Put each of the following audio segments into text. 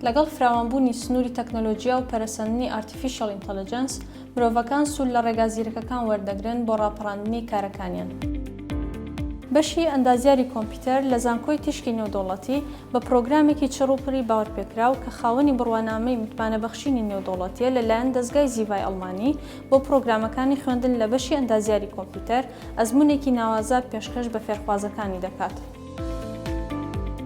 لەگەڵ فراوانبوونی سنووری تەکنەلۆژیا و پەرەسەندنی ئارتیفیشەڵ ئینتەلەجەنس، مرۆڤەکان سوود لە ڕێگا زیرەکەکان وەردەگرن بۆ ڕاپەڕاندنی کارەکانیان. بەشی ئەندازیاری کۆمپیوتەر لە زانکۆی تیشکی نێودەوڵەتی بە پڕۆگرامێکی چڕ و پڕی باوەرپێکراو کە خاوەنی بڕوانامەی متمانەبەخشینی نێودەوڵەتییە لەلایەن دەزگای زیڤای ئەڵمانی بۆ پڕۆگرامەکانی خوێندن لە بەشی ئەندازیاری کۆمپیوتەر ئەزموونێکی ناوازە پێشکەش بە فێرخوازەکانی دەکات.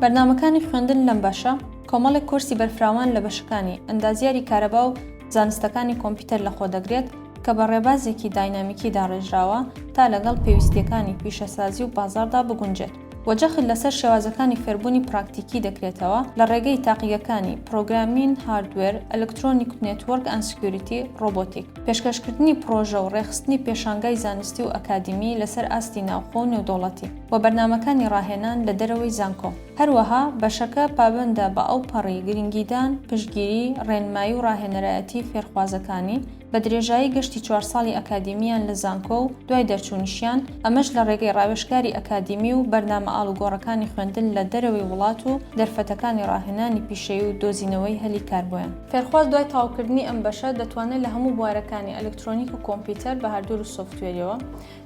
بەرنامەکانی خوێندن لەم بەشە کۆمەڵێک کۆرسی بەرفراوان لە بەشەکانی ئەندازیاری کارەبا و زانستەکانی کۆمپیوتەر لەخۆدەگرێت کە بە ڕێبازێکی داینامیکی داڕێژراوە تا لەگەڵ پێویستییەکانی پیشەسازی و بازاڕدا بگونجێت. و جەخت لەسەر شێوازەکانی فێربوونی پراکتیکی دەکرێتەوە لە ڕێگەی تاقیگەکانی، پرۆگرامین، هاردوێر، ئەلکترۆنیک و نێتوۆرک ئەند سکیوریتی، ڕۆبۆتیک. پێشکەشکردنی پڕۆژە و ڕێکخستنی پێشانگای زانستی و ئەکادیمی لەسەر ئاستی ناوخۆ و نێودەوڵەتی، و بەرنامەکانی ڕاهێنان لە دەرەوەی زانکۆ. هەروەها بەشەکە پابەندە بە ئەوپەڕی گرنگیدان، پشتگیری، ڕێنمایی و ڕاهێنەرایەتی فێرخوازەکانی، بە درێژایی گەشتی چوار ساڵی ئەکادیمییان لە زانکۆ و دوای دەرچوونیشیان، ئەمەش لە ڕێگەی ڕاوێژکاری ئەکادیمی و بەرنامە ئاڵوگۆڕەکانی خوێندن لە دەرەوەی وڵات و دەرفەتەکانی ڕاهێنانی پیشەیی و دۆزینەوەی هەلی کار بۆیان. فێرخواز دوای تەواوکردنی ئەم بەشە دەتوانێت لە هەموو بوارەکانی ئەلکترۆنیک و کۆمپیوتەر بە هاردوێر و سۆفتوێریەوە،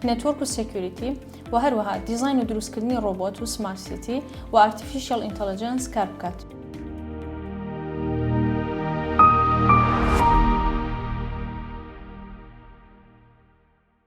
نێتوۆرک و سێکیوریتی و هەروەها دیزاین و دروستکردنی ڕۆبۆت و سمارت سیتی و ئارتیفیشیەڵ ئینتەلەجەنس کار بکات.